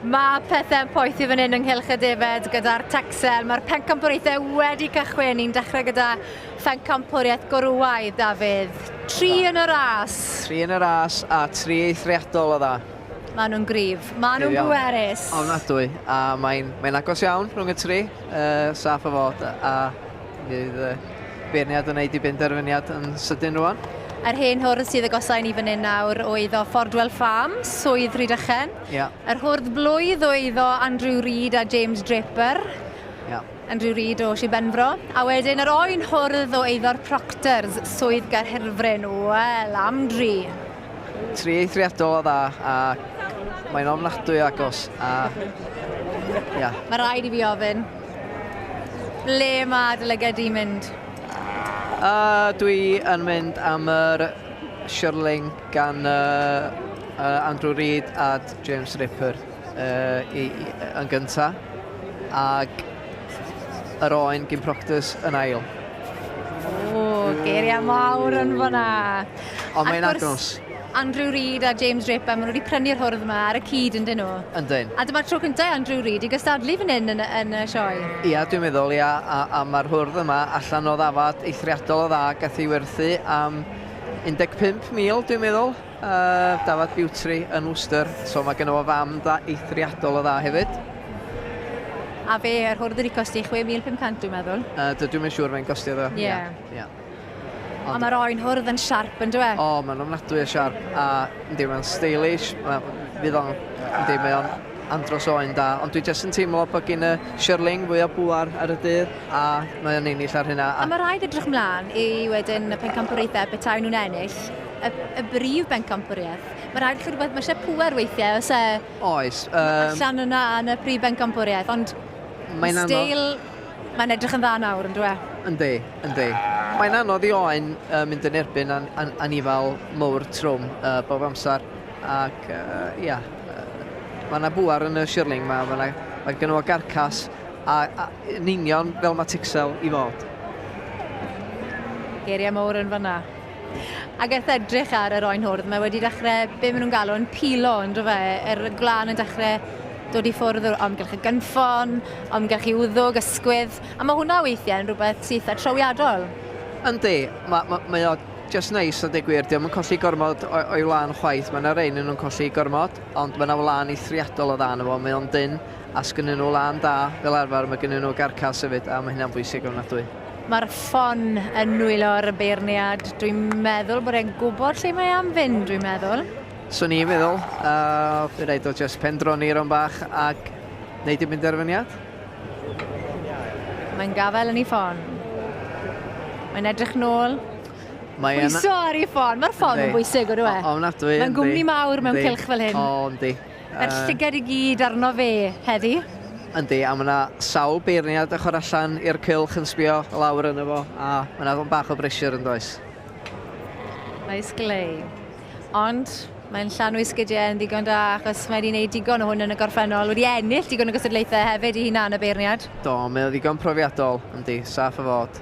Mae pethau'n poethi fan hyn ynghylch y defed gyda'r Texel. Mae'r pencampwriaethau wedi cychwyn. Ni'n dechrau gyda phencampwriaeth gorwaidd, Dafydd. Tri yn y ras. Tri yn y ras a tri eithriadol o dda. Mae nhw'n grif. Mae nhw'n bwerus. Ofnadwy. A mae'n mae agos iawn rhwng y tri. Uh, saff o fod. A Fydd y beirniad yn wneud i benderfyniad yn sydyn rwan? Yr hen hwrdd sydd agosau ni fan hyn nawr o eiddo Fordwell Farms, Swydd Rhydychen. Yeah. Yr hwrdd blwydd o eiddo Andrew Reid a James Draper. Yeah. Andrew Reid o Sir Benfro. A wedyn yr oen hwrdd o eiddo'r Proctors, Swydd Gaerhyrfryn. Wel, am dri. Tri eithriadol o dda, a mae'n ofnadwy agos. A... Yeah. Mae rhaid i fi ofyn, Ble mae dy lyged di'n mynd? A dwi yn mynd am yr Shirling gan yy Andrew Reid a James Ripper yy i i yy yn gynta ag yr Oen gin Proctors yn ail. Ww, geiria mawr yn fan 'na. Ond mae'n agos. Andrew Reid a James Draper, maen nhw wedi prynu'r hwrdd yma ar y cyd ynddyn nhw? Yndyn. A dyma'r tro cyntaf i Andrew Reid i gystadlu fan hyn yn yn y sioe? Ia, dwi'n meddwl, ia, a a ma'r hwrdd yma allan o ddafad eithriadol o dda, gath ei werthu am 15,000 dwi'n meddwl, yy dafad Bewtri yn Worcester, so ma' gynno fo fam dda eithriadol o dda hefyd. A fe yr hwrdd wedi costi 6500 dwi'n meddwl? Yy dydw i'm yn siŵr faint gostiodd o. Ia. Ia. Ond... Ond mae'r oen hwrdd yn siarp, yn dwe? O, mae'n ofnadwy o siarp, a yndi, mae'n stylish, fydd o'n, yndi, mae o'n andros o oen da, ond dwi jyst yn teimlo bod gyn y Shirling fwy o bŵar ar y dydd, a mae o'n ennill ar hynna. A, a mae rhaid edrych mlaen i wedyn y pencampwriaethau y betawn nhw'n ennill y, y brif bencampwriaeth. Mae rhaid chi rhywbeth, mae eisiau pŵer weithiau, os e... Oes. Um... Allan yna yn y prif bencampwriaeth, ond... Mae'n anodd. Steil Mae'n edrych yn dda nawr, yn dyw e? Yndi, yndi. Mae'n anodd i Owain mynd yn erbyn anifail mowr trwm bob amser, ac ia, mae yna bŵer yn y shirling ma, mae yna, mae gynno fo garcas, a, a yn union fel mae Tixel i fod. Geiriau mowr yn fanna. Ac wrth edrych ar yr oen hwrdd, mae wedi dechrau, be maen nhw'n galw yn pilo, yn dro fe, yr gwlân yn dechrau dod i ffwrdd o'r amgylch y gynffon, amgylch i wddwg, ysgwydd, a mae hwnna weithiau yn rhywbeth syth a trawiadol. Yndi, mae, mae, mae o just neis a deg gwir, diolch yn colli gormod o'i wlân chwaith, mae yna rei yn nhw'n colli gormod, ond mae yna wlân eithriadol o dda yn y fo, mae o'n dynn, A 's gynnyn nhw lân da, fel arfer, mae gynnyn nhw garcas hefyd, a mae hynna'n bwysig ofnadwy. Mae'r ffon yn nwylo'r y beirniad. Dwi'n meddwl bod e'n gwybod lle mae am fynd, dwi'n meddwl. Swn i'n meddwl. Uh, fe rhaid o just pendroni rhan bach ac wneud y benderfyniad. Mae'n gafael yn ei ffon. Mae'n edrych nôl. Mae Pwyso ar ei ffon. Mae'r ffon yn bwysig, o'r e? Ofnadwy. Mae'n gwmni mawr mewn cylch fel hyn. O, yndi. Yr llygad i gyd arno fe heddi. Yndi, a ma' 'na sawl beirniad ochor allan i'r cylch yn sbio lawr arno fo, a ma' 'na ddigon bach o bressure yndoes? Oes Glei. Ond mae'n llanw ei sgidiau yn ddigon da achos mae 'di neud digon o hwn yn y gorffennol, wedi ennill digon o gystadlaethau hefyd 'i hunan y beirniad. Do, mae o ddigon profiadol, yndi, saff o fod.